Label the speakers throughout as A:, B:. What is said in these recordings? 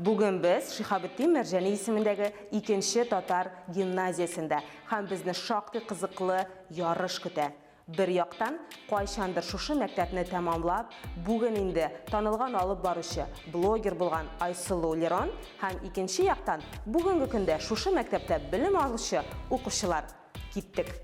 A: Бүген без Шихабетдин Мәрҗәни исемендәге икенче татар гимназиясендә һәм безне шактый кызыклы ярыш көтә. Бер яктан, кайчандыр шушы мәктәпне тәмамлап, бүген инде танылган алып баручы, блогер булган Айсылу Лерон һәм икенче яктан, бүгенге көндә шушы мәктәптә белем алучы укучылар. Киттек.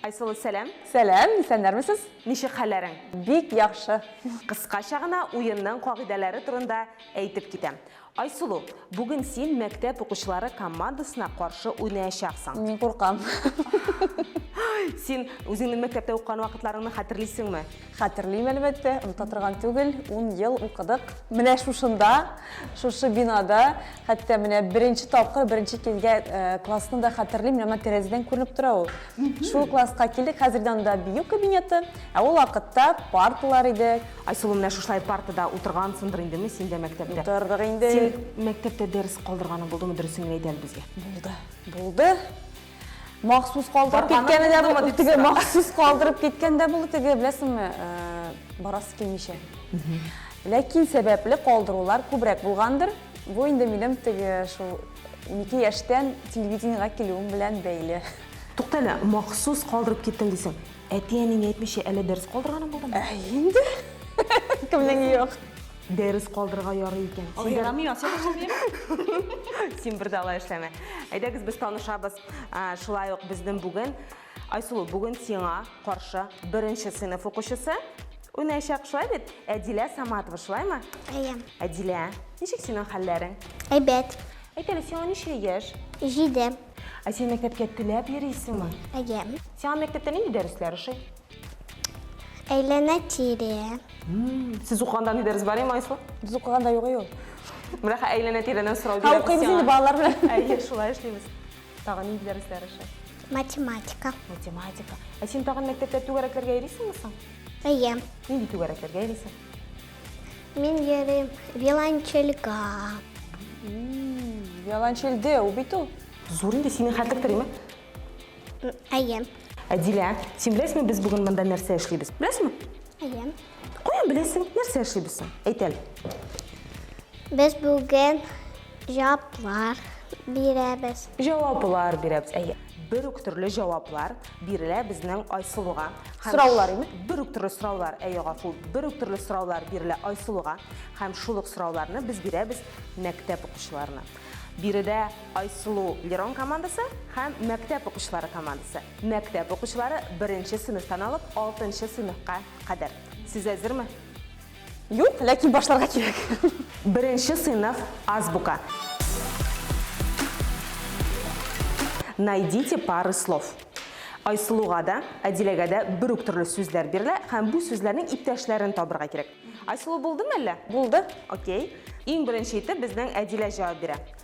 A: Айсылу, сәлам! Сәлам, исәннәрмесез?
B: Ничек хәлләрең?
A: Бик яхшы.
B: Кыскача гына
A: уенның кагыйдәләре турында әйтеп китәм. Айсылу, бүген син мәктәп укучылары командасына каршы уйнаячаксың. Мин куркам.
B: Син
A: үзеңнең мәктәптә укыган вакытларыңны хәтерлисеңме? Хәтерлим,
B: әлбәттә, оныта торган түгел. Ун ел укыдык. Менә шушында, шушы бинада, хәтта менә беренче тапкыр, беренче килгән классны да хәтерлим, менә моннан тәрәзәдән күренеп тора ул. Шул класска килдек, хәзер дә анда бию кабинеты, ә ул вакытта парталар иде, Айсылу, менә шушылай
A: партада утыргансыңдыр индеме син дә мәктәптә? Утырдык инде. Син
B: мәктәптә
A: дәрес калдырганың булдымы, дөресен генә әйт әле безгә. Булды. Булды.
B: Махсус калдырып киткәне дә булды, теге махсус калдырып киткән дә булды, теге беләсеңме, э, барасы килмичә. Ләкин сәбәпле калдырулар күбрәк булгандыр. Бу инде минем теге шул 12 яшьтән телевидениегә килүем белән бәйле. Туктале,
A: махсус калдырып киттең дисең. Әти-әниңә әйтмичә әле дәрес калдырганың булдымы? Ә инде.
B: Кемнең юк? Дәрес калдырырга
A: ярый икән. Ул ярамый, ача башлыйм.
B: Син бер дә
A: алай эшләмә. Әйдәгез без танышабыз. Шулай ук безнең бүген Айсулу, бүген сиңа каршы беренче сыйныф укучысы уйнаячак, шулай бит? Әдилә Саматова, шулаймы? Әйе. Әдилә, ничек синең хәлләрең? Әйбәт.
C: Әйт әле, сиңа
A: ничә яшь? Җиде.
C: Ә син мәктәпкә
A: теләп йөрисеңме? Әйе. Сиңа
C: мәктәптә нинди
A: дәресләр ошый?
C: Әйләнә-тирә. Сез
A: укыганда ни дәрес бар иде, Майсла? Без укыганда юк ул.
B: Менә хәзер
A: әйләнә-тирәдән сорау бирәбез. Һәм укыйбыз инде балалар
B: белән. Әйе, шулай эшлибез.
A: Тагын нинди дәресләр ошый? Математика.
C: Математика.
A: Ә син тагын мәктәптә түгәрәкләргә йөрисеңме соң? Әйе.
C: Нинди түгәрәкләргә
A: йөрисең? Мин
C: йөрим виолончельга.
B: Виолончельде, ул бит ул. Зур инде синең хәтлек
A: тримы?
C: Әйе. Әдилә,
A: син беләсеңме, без бүген монда нәрсә эшлибез? Беләсеңме? Әйе.
C: Каян беләсең,
A: нәрсә эшлибез соң? Әйт әле.
C: Без бүген Җаваплар бирәбез. Җаваплар
A: бирәбез, әйе. Бер үк төрле җаваплар бирелә безнең Айсылуга. Сораулар име?
B: Бер үк төрле сораулар,
A: әйе, гафу. Бер үк төрле сораулар бирелә Айсылуга. Һәм шул ук сорауларны без бирәбез мәктәп укучыларына. Биредә Айсылу Лерон командасы һәм мәктәп укучылары командасы. Мәктәп укучылары беренче сыйныфтан алып алтынчы сыйныфка кадәр. Сез әзерме? Юк,
B: ләкин башларга кирәк. Беренче
A: сыйныф азбука. Найдите пары слов. Айсылуга да, Әдиләгә дә бер үк төрле сүзләр бирелә һәм бу сүзләрнең иптәшләрен табырга кирәк. Айсылу булдымы әллә? Булды. Окей. Иң беренче итеп безнең Әдилә җавап бирә.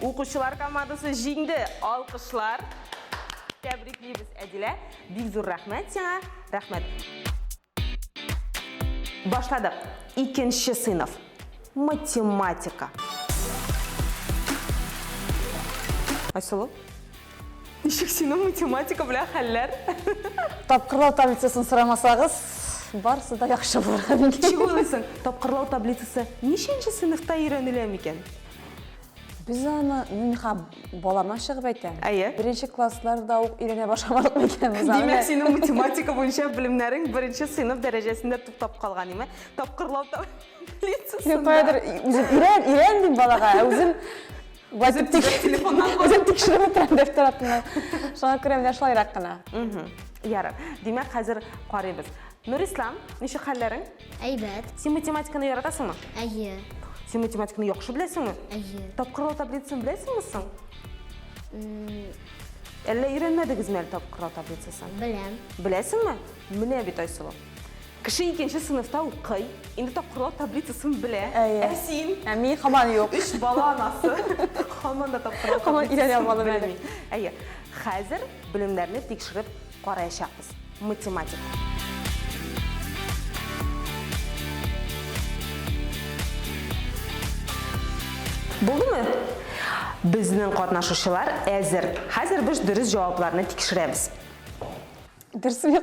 A: Укучылар командасы җиңде! Алкышлар! Тәбриклибез, Әдилә! Бик зур рәхмәт сиңа! Рәхмәт! Башладык! Икенче сыйныф. Математика. Айсылу, ничек синең математика белән хәлләр? Тапкырлау
B: таблицасын сорамасагыз, барысы да яхшы булырга мөмкин. Ничек уйлыйсың,
A: тапкырлау таблицасы ничәнче сыйныфта өйрәнелә микән?
B: Без аны, мин ха балама чыгып әйтәм. Әйе. Беренче
A: классларда
B: ук өйрәнә башламадык микән без аны? Димәк, синең математика
A: буенча белемнәрең беренче сыйныф дәрәҗәсендә туктап калган, име? Тапкырлау
B: таблицасында.
A: Мин
B: каядыр үзем өйрән, өйрән дим
A: балага, ә
B: үзем Үзем телефоннан Үзем тикшереп утырам дәфтәр артына. Шуңа күрә менә шулайрак кына. Ярар.
A: Димәк, хәзер карыйбыз. Нурислам, ничек хәлләрең? Әйбәт. Син
C: математиканы
A: яратасыңмы? Әйе.
C: Син математиканы
A: яхшы беләсеңме? Әйе. Тапкырлау
C: таблицасын
A: беләсеңме соң? Әллә өйрәнмәдегезме әле тапкырлау таблицасын? Беләм. Беләсеңме? Менә бит Айсылу. Кеше икенче сыйныфта укый, инде тапкырлау таблицасын белә. Әйе. Ә син? Ә мин хаман юк.
B: Өч бала анасы.
A: Хаман да тапкырлау таблицасын белми.
B: Әйе.
A: Хәзер белемнәрне тикшереп Караячакбыз. Математика. Булдымы? Безнең катнашучылар әзер. Хәзер без дөрес җавапларны тикшерәбез.
B: Дөресме?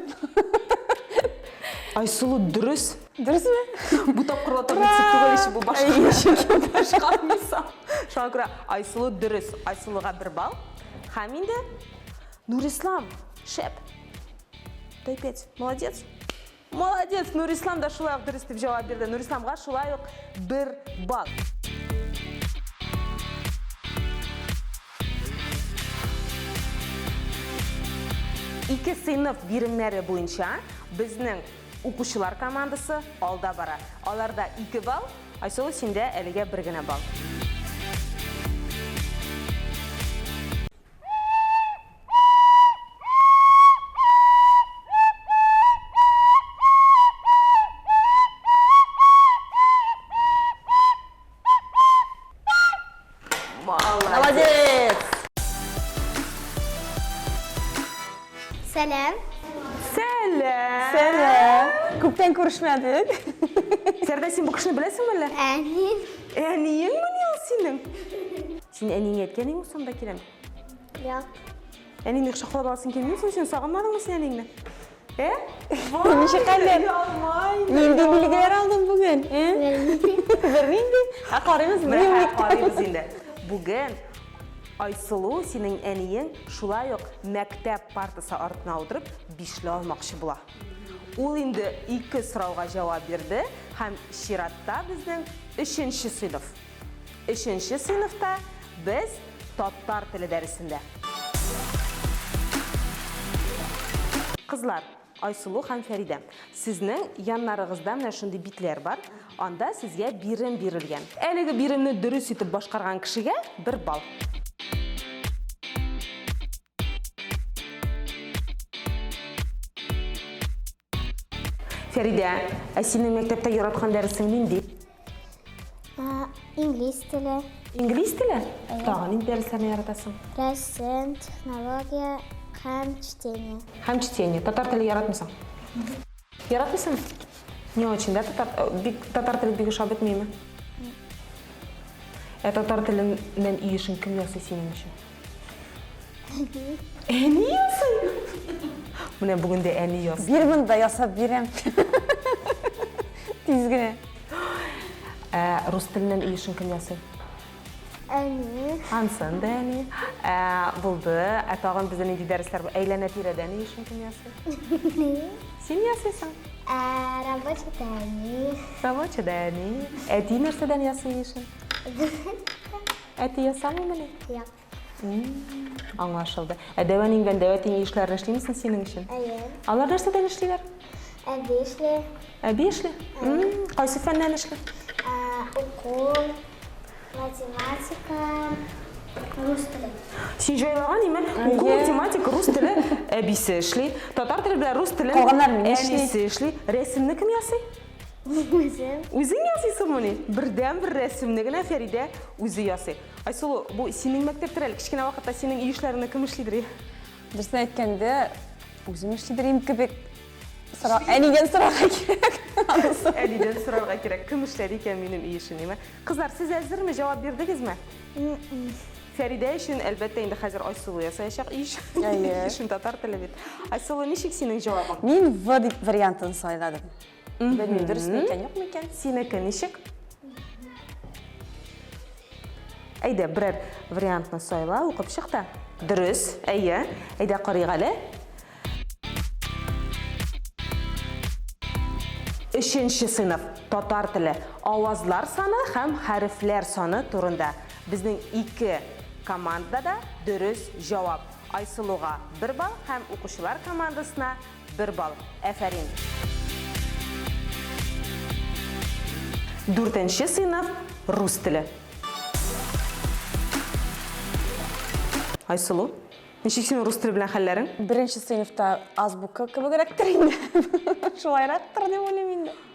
A: Айсылу дөрес. Дөресме?
B: Бу тапкырла туры
A: дип түгел ич бу башка. Башка мисал. Шуңа күрә Айсылу дөрес. Айсылуга бер балл. Һәм инде Нурислам, шәп! Дай пять. Молодец! Молодец! Нурислам да шулай ук дөрес дип җавап бирде. Нурисламга шулай ук бер балл. Ике сыйныф биремнәре буенча безнең укучылар командасы алда бара. Аларда 2 балл, Айсылу синдә әлегә бер генә балл.
B: Сәләм.
C: Сәләм.
A: Сәләм.
B: Күптән күрешмәдек. Сәрдә,
A: син бу кешене беләсеңме әллә? Әни.
C: Әниеңме
A: ни ул синең? Син әниеңә әйткәнең ул сонда киләм? Юк.
C: Әниеңне
A: кочаклап аласың килмей соң син сагынмадыңмы син әниеңне? Ә?
B: Вау! Ничә кадәр? Нинди билгеләр алдың бүген? Ә? Бернинди. Ә карыйбыз дневник. Карыйбыз
A: инде. Бүген Айсылу синең әниең шулай ук мәктәп партасы артына утырып бишле алмакчы була. Ул инде ике сорауга җавап бирде һәм чиратта безнең өченче сыйныф. Өченче сыйныфта без татар теле дәресендә. Кызлар, Айсылу һәм Фәридә, сезнең яннарыгызда менә шундый битләр бар, анда сезгә бирем бирелгән. Әлеге биремне дөрес итеп башкарган кешегә бер балл. Фәридә, ә синең мәктәптә яраткан дәресең нинди? Инглиз
C: теле. Инглиз теле?
A: Тагын нинди дәресләрне яратасың? Рәсем,
C: технология һәм чтение. Һәм чтение. Татар
A: теле яратмыйсың? Яратмыйсың? Не очень, да? Татар, э, бик, татар теле бик ошап бетмейме? Ә татар теленнән ие эшен кем ясый синең өчен? Әни ясый! Менә бүген дә әни ясый. Бир монда ясап бирәм.
B: Тиз генә.
A: Ә рус теленнән ил өчен кем ясый? Әни.
C: Ансын да
A: әни. Ә булды. Ә тагын бездә нинди дәресләр бар? Әйләнә тирәдә ни өчен кем ясый? Син ясыйсың. Ә рабочий
C: да әни. Рабочий да
A: әни. Әти нәрсәдән ясый ни өчен? Әти ясамыймыни? Юк.
C: Аңлашылды.
A: Ә дәвә ниңгән дәвә тиң эшләрне эшлиме соң синең өчен? Әйе. Алар нәрсәдән
C: эшлиләр?
A: Әби эшли.
C: Әби эшли?
A: Кайсы фәннән эшли? Уку,
C: математика, рус теле. Син җайлаган
A: име? Уку, математика, рус теле әбисе эшли. Татар теле белән рус телен әнисе
B: эшли. Рәсемне
A: кем ясый? Үзем.
C: Үзең ясыйсыңмыни?
A: Бердәнбер рәсемне генә Фәридә үзе ясый. Айсылу, бу синең мәктәптер әле? Кечкенә вакытта синең үй эшләреңне кем эшлидер? Дөресен
B: әйткәндә, үзем эшлидер идем кебек. Сора, әнидән сорарга кирәк. Әнидән
A: сорарга кирәк. Кем эшләде икән минем өй эшен, димә. Кызлар, сез әзерме? Җавап бирдегезме? Фәридә өчен, әлбәттә, инде хәзер Айсылу ясаячак өй эшен. Әйе. Эшен татар теле бит. Айсылу, ничек синең җавабың? Мин В
B: вариантын сайладым. Белмим, дөрес микән, юк микән? Синеке ничек?
A: Әйдә, берәр вариантны сайла, укып чык та. Дөрес, әйе. Әйдә карыйк әле. Өченче сыйныф татар теле авазлар саны һәм хәрефләр саны турында. Безнең ике командада дөрес җавап. Айсылуга бер балл һәм укучылар командасына Бер балл. Әфәрин! Дүртенче сыйныф, рус теле. Айсылу, ничек синең рус теле белән хәлләрең? Беренче сыйныфта
B: азбука кебегрәктер инде. Шулайрактыр дип уйлыйм инде.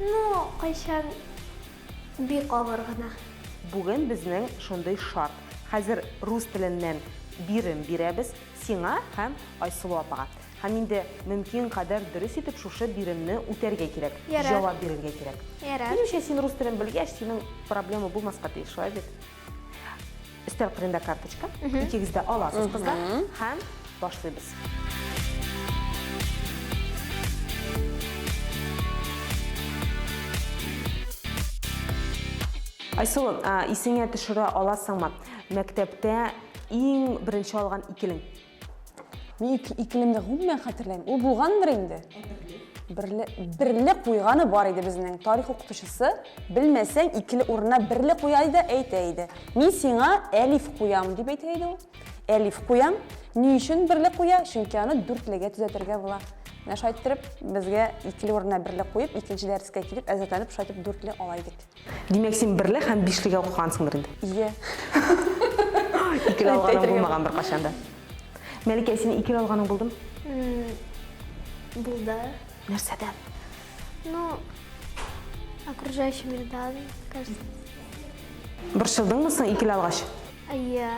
A: Ну,
C: кайчан бик авыр гына. Бүген безнең
A: шундый шарт. Хәзер рус теленнән бирем бирәбез сиңа һәм Айсылу апага. Һәм инде мөмкин кадәр дөрес итеп шушы биремне үтәргә кирәк. Ярар. Җавап бирергә
C: кирәк.
A: Ярар. Минемчә, син рус
C: телен
A: белгәч, синең проблема булмаска тиеш, шулай бит? Өстәл кырында карточка. Икегез дә аласыз, кызлар. Һәм башлыйбыз. Айсылу, исеңә төшерә аласыңмы? Мәктәптә иң беренче алган икелең. Мин
B: ике, икелемне гомумән хәтерләмим. Ул булгандыр инде. Берле, берле куйганы бар иде безнең. Тарих укытучысы белмәсәң икеле урынына берле куя иде, әйтә иде. Мин сиңа әлиф куям дип әйтә иде ул. Әлиф куям. Ни өчен берле куя? Чөнки аны дүртлегә төзәтергә була. Менә шайтырып безгә икеле урынына берле куеп, икенче дәрескә килеп әзерләнеп шайтып дүртле ала идек. Димәк, син берле
A: һәм бишлегә укыгансыңдыр инде? Ие. Икегә алганың булмаган беркайчан да. Мәликә, син икегә алганың булдым?
C: Булды. Нәрсәдән?
A: Ну,
C: окружающий мирдан, кажется.
A: Борчылдыңмы соң икеле алгач? Ие.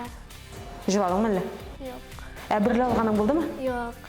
C: Җыладыңмы
A: әллә? Юк.
C: Ә берле алганың
A: булдымы? Юк.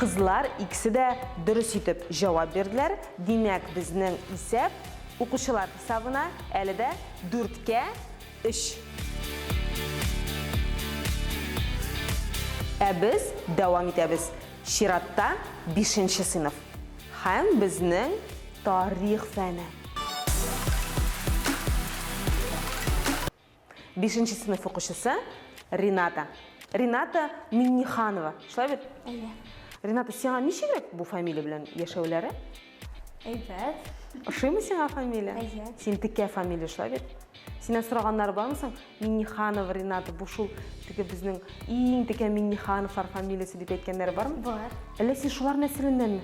A: Кызлар икесе дә дөрес итеп җавап бирделәр. Димәк, безнең исәп укучылар хисабына әле дә 4-кә 3. Ә без дәвам итәбез. Чиратта 5 нче сыйныф. Һәм безнең тарих фәне. Бишенче сыйныф укучысы Рената. Рената Минниханова. Шулай бит? Әйе.
C: Рената, сиңа
A: ничегрәк бу фамилия белән яшәүләре? Әйбәт.
C: Ошыймы
A: сиңа фамилия? Әйе. Син текә
C: фамилия,
A: шулай бит? Синнән сораганнары бармы соң? Минниханов Ренат, бу шул теге безнең иң текә Миннихановлар фамилиясе дип әйткәннәре бармы? Бар. Әллә син
C: шулар
A: нәселеннәнме?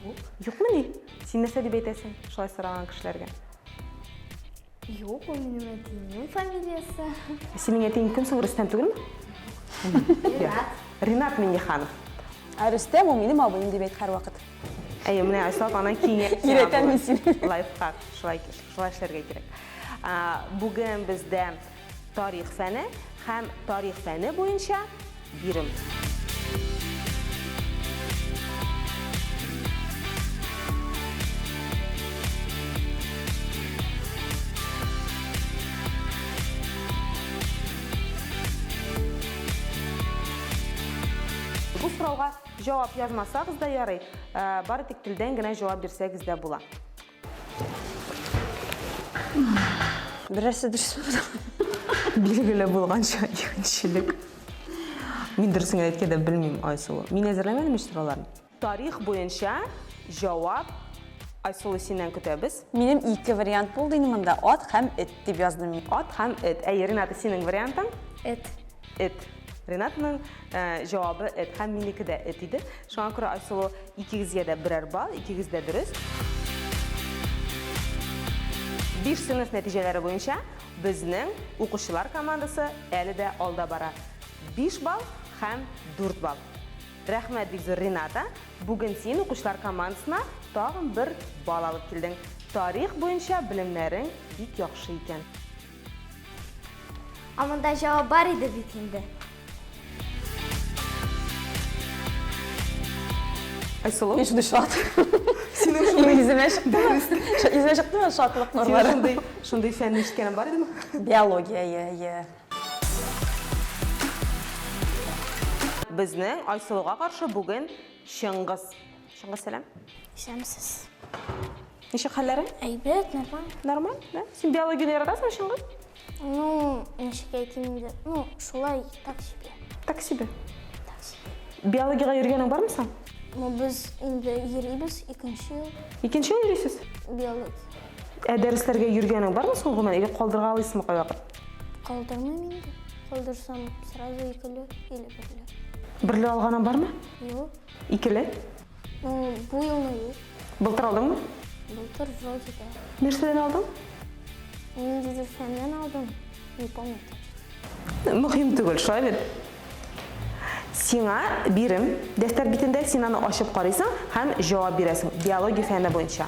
A: Юк.
C: Юкмы ни?
A: Син нәрсә дип әйтәсең шулай сораган кешеләргә?
C: Юк, ул минем әтиемнең фамилиясе. Ә синең әтиең
A: кем соң, Рөстәм түгелме? Ренат.
C: Ренат
A: Минниханов. Ә Рөстәм
B: ул минем абыем дип әйт һәрвакыт. Әйе, менә
A: Айсылу апаның киңәше. Өйрәтәм мин сине.
B: Лайфхак,
A: шулай эшләргә кирәк. Бүген бездә тарих фәне һәм тарих фәне буенча бирем. Бу сорауга җавап язмасагыз да ярый, бары тик телдән генә җавап бирсәгез дә була.
B: Берәрсе дөрес Билгеле
A: булганча игенчелек. Мин дөресен генә әйткәндә белмим Айсулу. Мин әзерләмәдем ич сорауларны. Тарих буенча җавап Айсулу синнән көтәбез. Минем ике вариант
B: булды инде монда, ат һәм эт дип яздым мин. Ат һәм эт. Әйе,
A: Рената, синең вариантың? Эт.
C: эт.
A: Ренатның э, җавабы эт һәм минеке дә эт иде. Шуңа күрә Айсылу икегезгә дә берәр балл, икегез дә дөрес. Биш сыйныф нәтиҗәләре буенча безнең укучылар командасы әле дә алда бара. 5 балл һәм 4 балл. Рәхмәт бик зур Рената. Бүген син укучылар командасына тагын бер балл алып килдең. Тарих буенча белемнәрең бик яхшы икән.
C: Ә монда җавап бар иде бит инде.
A: Айсылу. Мин шундый шат.
B: Синең шундый
A: йөземә
B: чыкты. Йөземә чыктымы шатлык нурлары? Синең шундый, шундый фәнне ишеткәнем
A: бар идеме? Биология, иә, иә. Безнең Айсылуга каршы бүген Чыңгыз. Чыңгыз, сәлам. Исәнмесез. Ничек хәлләрең? Әйбәт, нормаль.
C: Нормаль, да? Син
A: биологияне яратасыңмы, Чыңгыз? Ну,
C: ничек әйтим инде? Ну, шулай, так себе. Так себе.
A: Так себе.
C: Биологиягә йөргәнең
A: бармы соң? Ну, без
C: инде йөрибез икенче ел. Икенче ел йөрисез?
A: Биология.
C: Ә дәресләргә
A: йөргәнең бармы соң гомумән? Или калдырга алыйсызмы кайвакыт? Калдырмыйм
C: инде. Калдырсам, сразу икеле или берле. Берле алганың
A: бармы? Юк.
C: Икеле? Бу елны юк. Былтыр алдыңмы?
A: Былтыр
C: вроде да. Нәрсәдән алдың? Ниндидер фәннән алдым. Не помню.
A: Мөһим түгел, шулай бит? Сиңа бирем. Дәфтәр битендә син аны ачып карыйсың һәм җавап бирәсең. Биология фәне буенча.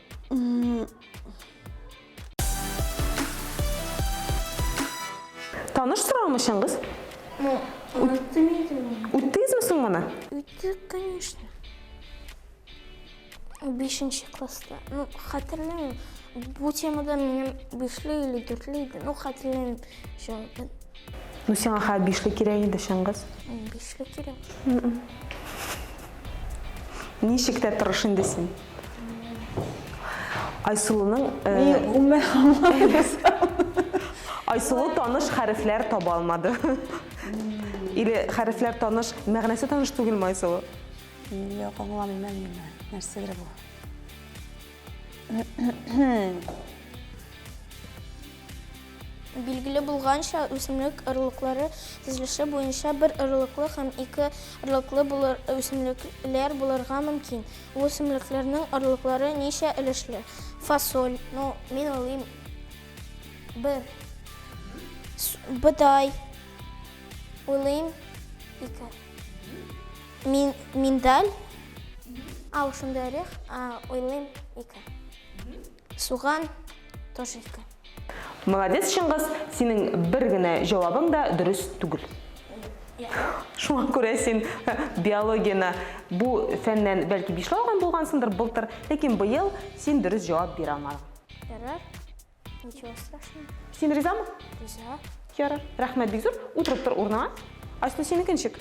A: Таныш торам өчен кыз? Ну,
C: Үттегезме соң моны?
A: Үттек, конечно.
C: Бишенче класста. Ну, хәтерләмим. Бу темада минем бишле или дүртле иде. Ну, хәтерләмим. Шо, Ну, сиңа
A: ха бишле кирәк инде, Шыңгыз. Бишле кирәк. Ничек тә торыш инде син. Айсылуның Айсылу таныш хәрефләр таба алмады. Или хәрефләр таныш, мәгънәсе таныш түгелме Айсылу? Юк,
B: аңламыйм әле мин. Нәрсәдер бу?
C: Билгеле булганча, үсемлек орлыклары төзелеше буенча бер орлыклы һәм ике орлыклы булыр, үсемлекләр булырга мөмкин. Бу үсемлекләрнең орлыклары ничә өлешле? Фасоль. Ну, мин уйлыйм, бер. Бодай. Уйлыйм, ике. Мин, миндаль. Ау, шундый орех, уйлыйм, ике. Суган тошилка. Молодец,
A: Чыңгыз, синең бер генә җавабың да дөрес түгел. Шуңа күрә син биологияне бу фәннән бәлки бишле алган булгансыңдыр былтыр, ләкин быел син дөрес җавап бирә алмадың. Ярар. Ничего
C: страшного. Син ризамы?
A: Риза.
C: Ярар. Рәхмәт
A: бик зур. Утырып тор урыныңа. Айсылу, синеке ничек?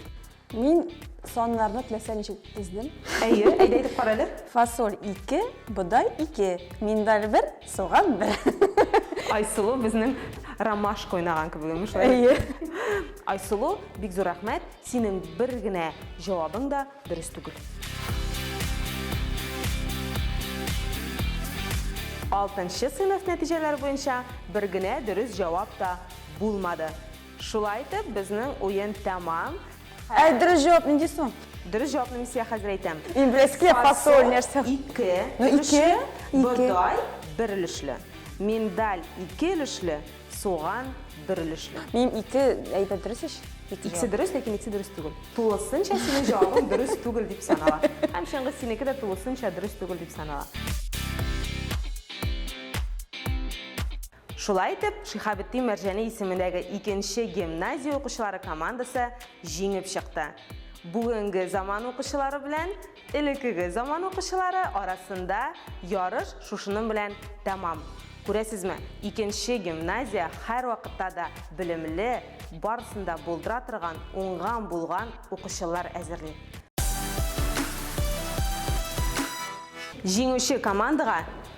A: Мин
B: саннарны теләсә ничек тездем. Әйе, әйдә әйтеп
A: кара әле. Фасоль 2,
B: бодай 2, миндаль 1, суган 1. Айсылу
A: безнең ромашка уйнаган кебек имеш. Әйе.
B: Айсылу,
A: бик зур рәхмәт. Синең бер генә җавабың да дөрес түгел. Алтынчы сыйныф нәтиҗәләре буенча бер генә дөрес җавап та булмады. Шулай итеп, безнең уен тәмам. Ә дөрес
B: җавап нинди соң? Дөрес җавапны мин сезгә
A: хәзер әйтәм. Инглизский фасоль
B: нәрсә? Ике. Ну,
A: ике. Бодай бер өлешле. Миндаль ике өлешле, суган бер өлешле. Минем ике
B: әйбәт дөрес ич. Икесе дөрес, ләкин
A: икесе дөрес түгел. Тулысынча синең җавабың дөрес түгел дип санала. Һәм чыңгыз синеке дә тулысынча дөрес түгел дип санала. Шулай итеп, Шиһабетдин Мәрҗани исемендәге икенче гимназия укучылары командасы җиңеп чыкты. Бүгенге заман укучылары белән элеккеге заман укучылары арасында ярыш шушының белән тәмам. Күрәсезме, икенче гимназия һәрвакытта да белемле, барысын да булдыра торган уңган-булган укучылар әзерли. Җиңүче командага